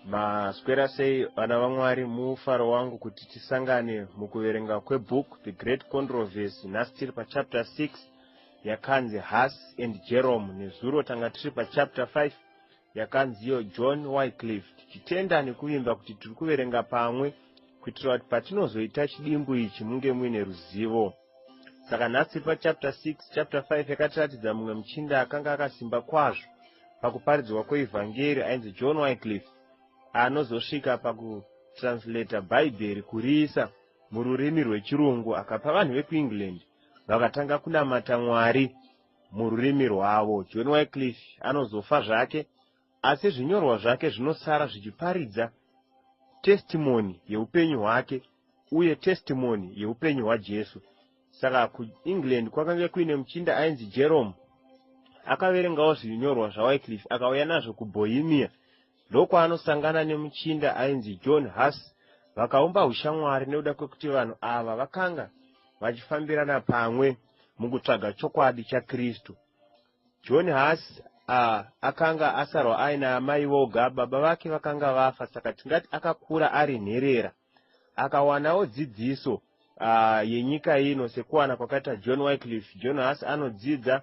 maswera sei vana vamwari mufaro wangu kuti tisangane mukuverenga kwebook the great controversy nhasi tiri pachapter 6 yakanzi has and jerome nezuro tanga tiri pachapter 5 yakanzi iyo John Wycliffe tichitenda nekuvimba kuti tiri kuverenga pamwe kuitira kuti patinozoita chidimbu ichi munge muine ruzivo. Saka nhasi tiri pachapter 6, chapter 5 yakatiratidza mumwe muchinda akanga akasimba kwazvo pakuparidzwa kweivhangeri ainzi John Wycliffe anozosvika pakutranslata Bhaibheri kuriisa mururimi rwechirungu akapa vanhu vekuEngland vakatanga kunamata Mwari mururimi rwavo. John Wycliffe anozofa zvake, asi zvinyorwa zvake zvinosara zvichiparidza testimony yeupenyu hwake uye testimony yeupenyu hwaJesu. Saka kuEngland kwakange kuine muchinda ainzi Jerome, akaverengawo zvinyorwa zvaWycliffe akauya nazvo kuBohemia, ndokwaanosangana nemuchinda ainzi John Huss vakaumba ushamwari nekuda kwekuti vanhu ava vakanga vachifambirana pamwe. mukutsvaga chokwadi chaKristu. John Huss a, akanga asarwa aina amai voga, baba vake vakanga vafa, saka tingati akakura ari nherera. Akawanawo dzidziso a, yenyika ino sekuwana kwakaita John Wycliffe. John Huss anodzidza,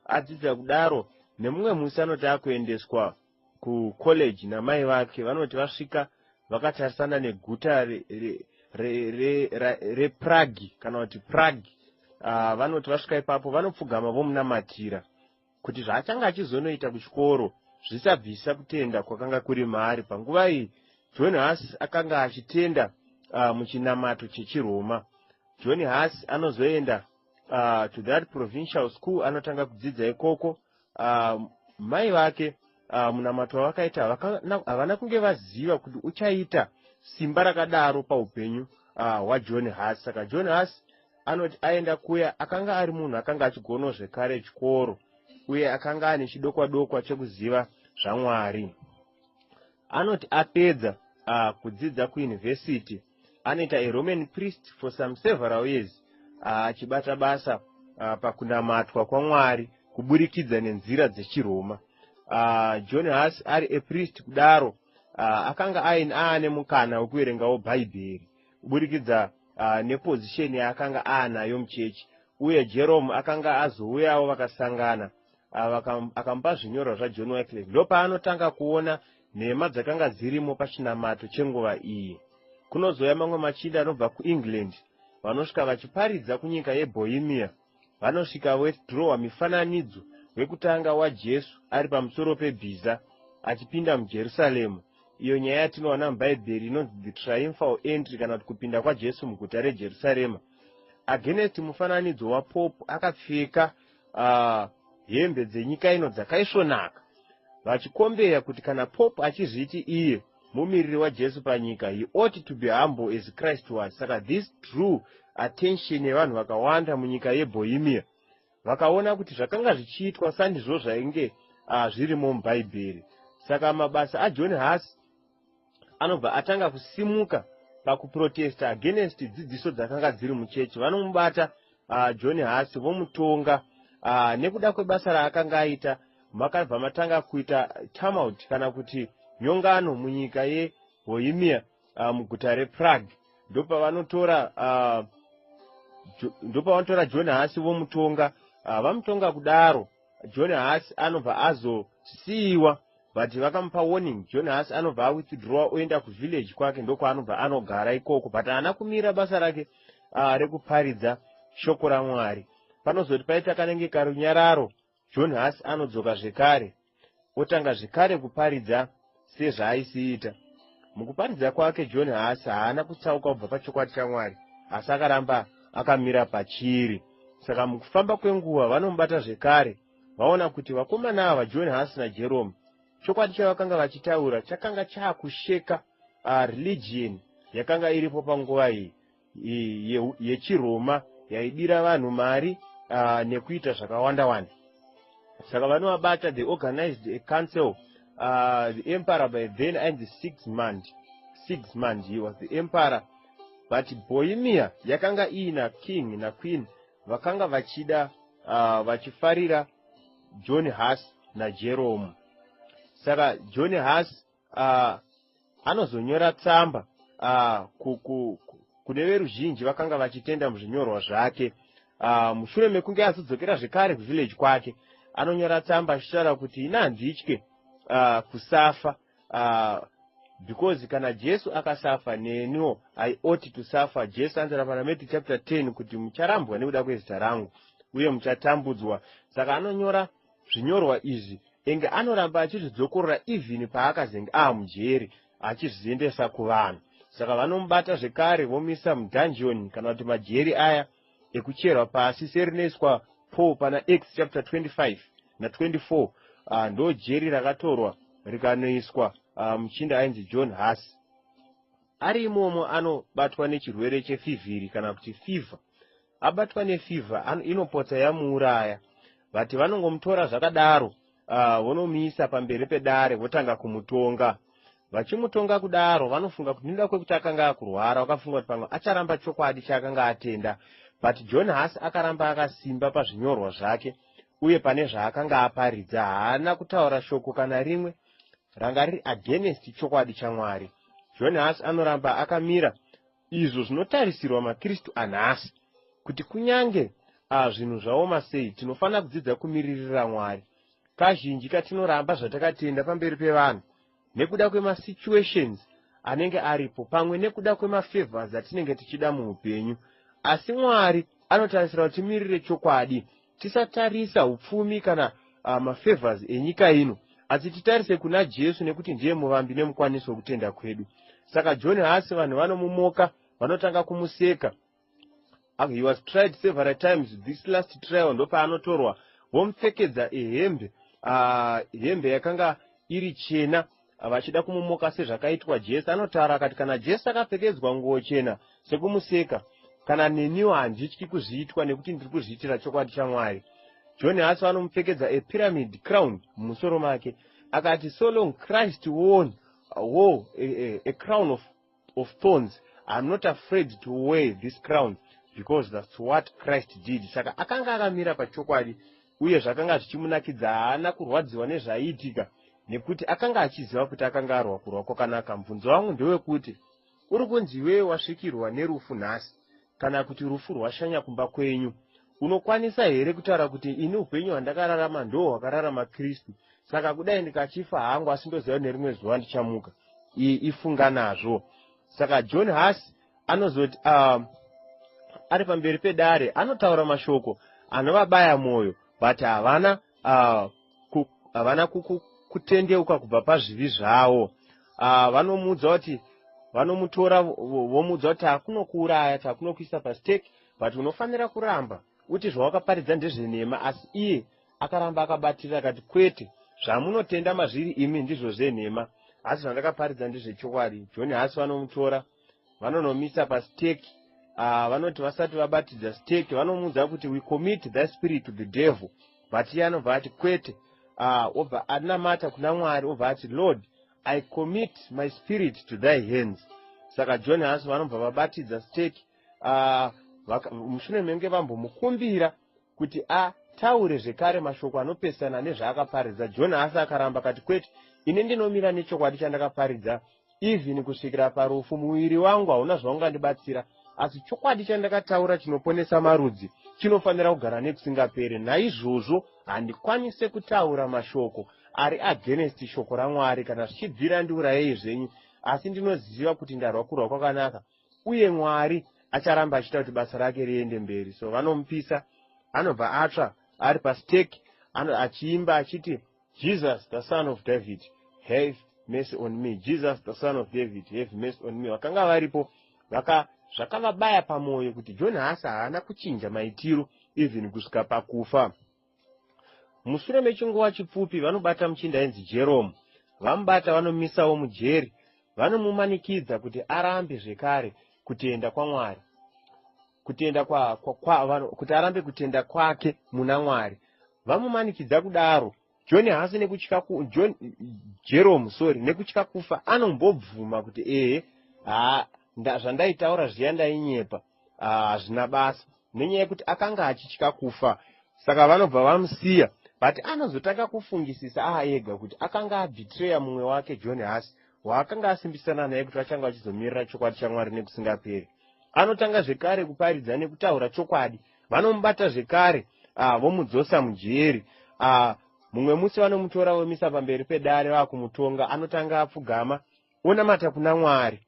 adzidza kudaro, nemumwe musi anoti akuendeswa kucollege namai vake vanoti vasvika vakatarisana neguta reprague kana kuti prague ah, vanoti vasvika ipapo vanopfugama vomunamatira kuti zvaachange achizonoita kuchikoro zvisabvisa kutenda kwakanga kuri maari panguva iyi john has akanga achitenda ah, muchinamato chechiroma john has anozoenda ah, to that provincial school anotanga kudzidza ikoko Ah, mai vake ah, munamato wavakaita havakana- havana kunge vaziva kuti uchaita simba rakadaro paupenyu ah, hwajohn haas saka john haas anoti aenda kuya akanga ari munhu akanga achigonawo zvekare chikoro uye akanga ane chidokwa dokwa chekuziva zvamwari Anoti apedza a kudzidza kuyunivhesiti, anoita a Roman priest for some several years a achibata basa a pakunamatwa kwaMwari kuburikidza nenzira dzechiRoma. A John Huss ari a priest kudaro a akanga ain aane mukana wekuverengawo Bhaibheri kuburikidza a nepozisheni yaakanga aanayo muchechi, uye Jerome akanga azouyawo vakasangana Ava akamupa zvinyorwa zvaJohn Wycliffe ndopaanotanga kuona nhema dzakanga dzirimo pachinamato chenguva iyi. Kunozouya mamwe machinda anobva kuEngland vanosvika vachiparidza kunyika yeBohemia. Vanosvika vodhirowa mifananidzo wekutanga waJesu ari pamusoro pebhiza achipinda muJerusaremu, iyo nyaya yatinowana muBhaibheri inonzi the triumphal entry kana kuti kupinda kwaJesu muguta reJerusarema. Against mufananidzo waPope akapfeka Ah, hembe dzenyika ino dzakaisvonaka. Vachikombeya kuti kana Pope achizviti iye mumiriri waJesu panyika, he ought to be humble as Christ was. Saka this drew attention yevanhu vakawanda munyika yeBohemia. Vakaona kuti zvakanga zvichiitwa sandizvo zvainge ah, zvirimo muBhaibheri. Saka mabasa aJohn Huss anobva atanga kusimuka pakuprotesta against dzidziso dzakanga dziri muchechi vanomubata uh, john hasi vomutonga uh, nekuda kwebasa raakanga aita makabva matanga kuita turmout kana kuti nyongano munyika yehoimia uh, muguta reprague ndopavanotora uh, ndopavanotora john hasi vomutonga uh, vamutonga kudaro John haasi anobva azosiiwa but vakamupa warning John haasi anobva awithdrawa oenda kuvillage kwake ndokwaanobva anogara ikoko but haana kumira basa rake uh, rekuparidza shoko ramwari panozoti paita kanenge karunyararo John haasi anodzoka zvekare otanga zvekare kuparidza sezvaaisiita. Mukuparidza kwake, John Huss haana kutsauka kubva pachokwadi chaMwari, asi akaramba akamira pachiri. Saka mukufamba kwenguva vanomubata zvekare, vaona kuti vakomana ava, John Huss naJerome, chokwadi chavakanga vachitaura chakanga chaakusheka uh, religion yakanga iripo panguva iyi. yechiRoma yaidira vanhu mari uh, nekuita zvakawanda wanda saka vanovabata they organized a council uh, the emperor by then and the six month six month he was the emperor but bohemia yakanga iina king naqueen vakanga vachida uh, vachifarira john has najeromu saka john has uh, anozonyora tsamba uh, ku, ku, ku, kune veruzhinji vakanga vachitenda muzvinyorwa zvake uh, mushure mekunge azodzokera zvekare kuvillage kwake anonyora tsamba achitaura kuti ini handitye uh, kusafa uh, because kana jesu akasafa neniwo i ought to suffer jesu anzira parameti chapter 10 kuti mucharambwa nekuda kwezita rangu uye muchatambudzwa saka anonyora uh, Zvinyorwa izvi enge anoramba achizvidzokorora even paakazenge aamujeri achizviendesa kuvanhu saka vanomubata zvekare vomuisa mudungeon kana kuti majeri aya ekucherwa pasi serinoiswa Paul pana Acts chapter 25 na 24 uh, ah, ndo jeri rakatorwa rikanoiswa uh, muchinda ainzi John Huss ari imomo anobatwa nechirwere chefivhiri kana kuti fever Abatwa ne fever an, inopotsa yamuuraya but vanongomutora zvakadaro uh, vonomuisa pamberi pedare votanga kumutonga. Vachimutonga kudaro vanofunga kuti nekuda kwekuti akanga akurwara vakafunga kuti pamwe acharamba chokwadi chaakanga atenda but John Haasi akaramba akasimba pazvinyorwa zvake uye pane zvaakanga aparidza haana kutaura shoko kana rimwe ranga riri against chokwadi chaMwari. John Haasi anoramba akamira izvo zvinotarisirwa maKristu anhasi, kuti kunyange a zvinhu zvaoma sei, tinofanira kudzidza kumiririra Mwari. Kazhinji katinoramba zvatakatenda pamberi pevanhu nekuda kwemasituations anenge aripo pamwe nekuda kwemafavors atinenge tichida muupenyu. Asi Mwari anotarisira kuti timirire chokwadi Tisatarisa upfumi kana uh, mafavors enyika ino, asi titarise kuna Jesu nekuti ndiye muvambi nemukwanisi wekutenda kwedu. Saka John haasi vanhu vanomumoka, vanotanga kumuseka. Uh, he was tried several times, this last trial ndopaanotorwa vomupfekedza ehembe uh, hembe yakanga iri chena Vachida kumumoka sezvakaitwa Jesse anotaura akati kana Jesse akapfekedzwa nguwo chena sekumuseka kana neniwo handityi kuzviitwa nekuti ndiri kuzviitira chokwadi chaMwari. John Hassel anomupfekedza a pyramid crown mumusoro make akati so long Christ won a war a, a, a crown of of thorns i'm not afraid to wear this crown because thats what christ did saka akanga akamira pachokwadi uye zvakanga zvichimunakidza haana kurwadziwa nezvaiitika nekuti akanga achiziva kuti akanga arwa kurwa kwakanaka mubvunzo wangu ndewekuti uri kunzi iwewe wasvikirwa nerufu nhasi kana kuti rufu rwashanya kumba kwenyu. Unokwanisa here kutaura kuti ini upenyu hwandakararama ndoo hwakararama Kristu, saka kudai ndikachifa hangu asi ndoziva kuti nerimwe zuva ndichamuka? Iyi ifunga nazvo. Saka John Huss anozoti uh, ari pamberi pedare anotaura mashoko anovabaya mwoyo but havana uh, ku, havana kuku, kutendeuka kubva pazvivi zvavo uh, vanomuudza kuti vanomutora vomuudza kuti takunokuuraya takunokuisa pastake but unofanira kuramba uti zvawakaparidza ndezvenhema asi iye akaramba akabatirira akati kwete zvamunotenda mazviri imi ndizvo zvenhema asi zvandakaparidza ndezvechokwadi john hasi vanomutora vanonomisa pasteki uh, ah, vanoti vasati vabatidza steki vanomuudza kuti we commit the spirit to the devil but iye anobva ati kwete uh, obva anamata kuna mwari obva ati lord i commit my spirit to thy hands saka john haso vanobva vabatidza steki uh, ah, mushure menge vambomukumbira kuti a taure zvekare mashoko anopesana nezvaakaparidza john asi akaramba kati kwete ini ndinomira nechokwadi chandakaparidza even kusvikira parufu muviri wangu hauna zvaungandibatsira asi chokwadi chandakataura chinoponesa marudzi chinofanira kugara nekusingaperi naizvozvo handikwanise kutaura mashoko ari against shoko ramwari kana zvichibvira ndiurayei zvenyu asi ndinoziva kuti ndarwa kurwa kwakanaka uye Mwari acharamba achiita kuti basa rake riende mberi so vanomupisa anobva atsva ari pastake achiimba achiti Jesus the son of David have mercy on me Jesus the son of David have mercy on me vakanga varipo vaka zvakavabaya pamwoyo kuti John Hasa haana kuchinja maitiro even kusvika pakufa Mushure mechinguva chipfupi vanobata muchinda ainzi Jerome. Vamubata vanomuisawo mujeri. Vanomumanikidza kuti arambe zvekare kutenda kwaMwari, kutenda kwa, kwa, kwa, vano, kuti arambe kutenda kwake muna Mwari. Vamumanikidza kudaro, John haasi nekutya ku, John, Jerome sorry, nekutya kufa anombobvuma kuti ehe, haa, nda, zvandaitaura zviya ndainyepa. Ah, hazvina basa nenyaya yekuti akanga achitya kufa saka vanobva vamusiya but anozotanga kufungisisa aega kuti akanga abitreya mumwe wake john hasi waakanga asimbisana naye kuti vachanga vachizomirira chokwadi chamwari nekusingaperi anotanga zvekare kuparidza nekutaura chokwadi vanomubata zvekare ah, vomudzosa mujeri ah, mumwe musi vanomutora vomisa pamberi pedare vakumutonga anotanga apfugama onamata kuna Mwari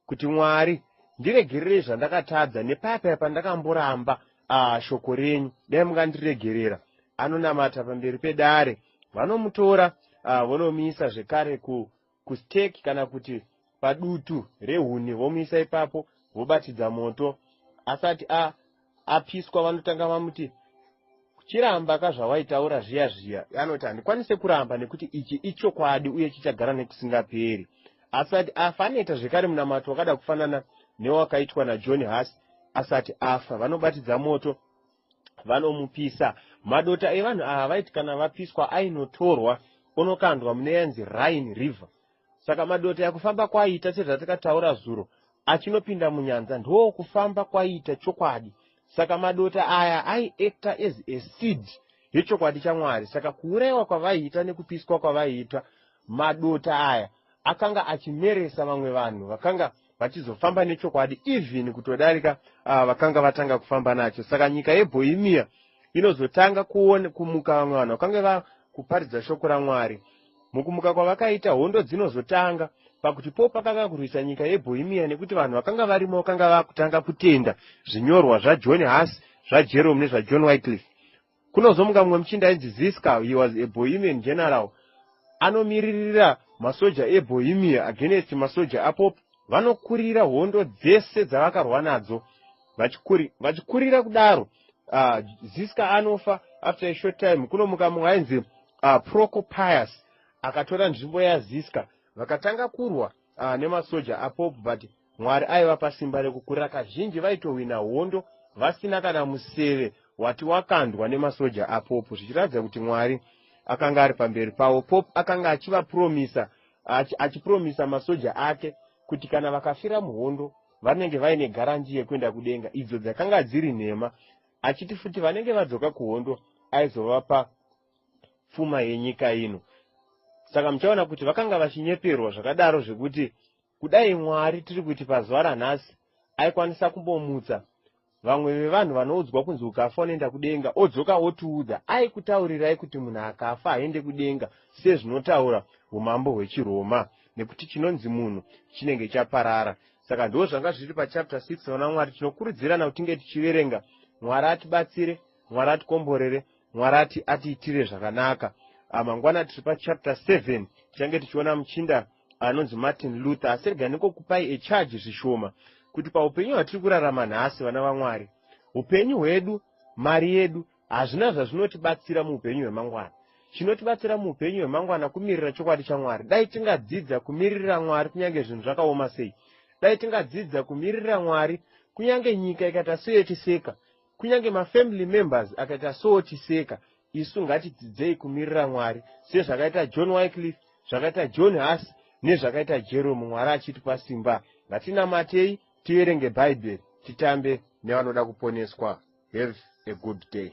kuti Mwari ndiregerere zvandakatadza nepayapaya pandakamboramba uh, shoko renyu dai mungandiregerera anonamata pamberi pedare vanomutora uh, vonomuisa zvekare ku, kustake kana kuti padutu rehuni vomuisa ipapo vobatidza moto asati a, apiswa vanotanga vamuti chiramba ka zvawaitaura zviya zviya anoti handikwanise kuramba nekuti ichi ichokwadi uye chichagara nekusingaperi asati afa anoita zvekare munamato wakada kufanana newakaitwa najohn has asati afa vanobatidza moto vanomupisa madota evanhu ava vaiti kana vapiswa ainotorwa onokandwa mune yanzi rhine river Saka madota aya kufamba kwaaita sezvatakataura zuro achinopinda munyanza ndoo kufamba kwaiita chokwadi saka madota aya aiacta as a seed yechokwadi chamwari saka kuuraiwa kwavaiita nekupiswa kwavaiita madota aya akanga achimeresa vamwe vanhu vakanga vachizofamba nechokwadi even kutodarika uh, vakanga vatanga kufamba nacho saka nyika yebohemia inozotanga kuone kumuka vamwe vanhu vakange vakuparidza shoko ramwari mukumuka kwavakaita hondo dzinozotanga pakuti po pakanga kurwisa nyika yebohemia nekuti vanhu vakanga varimo vakanga vakutanga kutenda zvinyorwa zvajohn hass zvajerome nezvajohn whitliff Kunozomuka mumwe muchinda ainzi Ziska, he was a Bohemian general, anomiririra masoja eBohemia against masoja aPope, vanokurira hondo dzese dzavakarwa nadzo, vachikuri, vachikurira kudaro. Uh, Ziska anofa, after a short time kunomuka mumwe ainzi uh, Procopius, akatora nzvimbo yaZiska, vakatanga kurwa uh, nemasoja aPope, but Mwari aivapa simba rekukurira kazhinji vaitohwina hondo vasina kana museve wati wakandwa nemasoja aPope zvichiratidza kuti Mwari akanga ari pamberi pavo. Pope akanga achivapuromisa achi, achipuromisa masoja ake kuti kana vakafira muhondo vanenge vaine garanji yekuenda kudenga idzo dzakanga dziri nhema achiti futi vanenge vadzoka kuhondo aizovapa pfuma yenyika ino. Saka muchaona kuti vakanga vachinyeperwa zvakadaro zvekuti Kudai Mwari tiri kuti pazuva ranhasi aikwanisa kumbomutsa vamwe vevanhu vanoudzwa kunzi ukafa unoenda kudenga odzoka otiudza aikutaurirai kuti munhu akafa haende kudenga sezvinotaura umambo hwechiroma nekuti chinonzi munhu chinenge chaparara saka ndoo zvanga zviri pachapter 6 vana mwari tinokurudzirana kuti tinge tichiverenga mwari atibatsire mwari atikomborere mwari ati atiitire zvakanaka ah, mangwana tiri pachapter 7 tichange tichiona muchinda anonzi Martin Luther asi rega nikokupai echarge zvishoma kuti paupenyu hwatiri kurarama nhasi vana vaMwari, upenyu hwedu, mari yedu hazvina zvazvinotibatsira muupenyu hwemangwana. Chinotibatsira muupenyu hwemangwana kumirira chokwadi chaMwari. Dai tingadzidza kumiririra Mwari kunyange zvinhu zvakaoma sei. Dai tingadzidza kumiririra Mwari kunyange nyika ikata seyotiseka Kunyange mafamily members akaita so ochiseka, isu ngatidzidzei kumirira Mwari sezvakaita John Wycliffe, zvakaita John Huss nezvakaita Jerome Mwari achitipa simba. Ngatinamatei, tiverenge Bhaibheri, titambe nevanoda kuponeswa. Have a good day.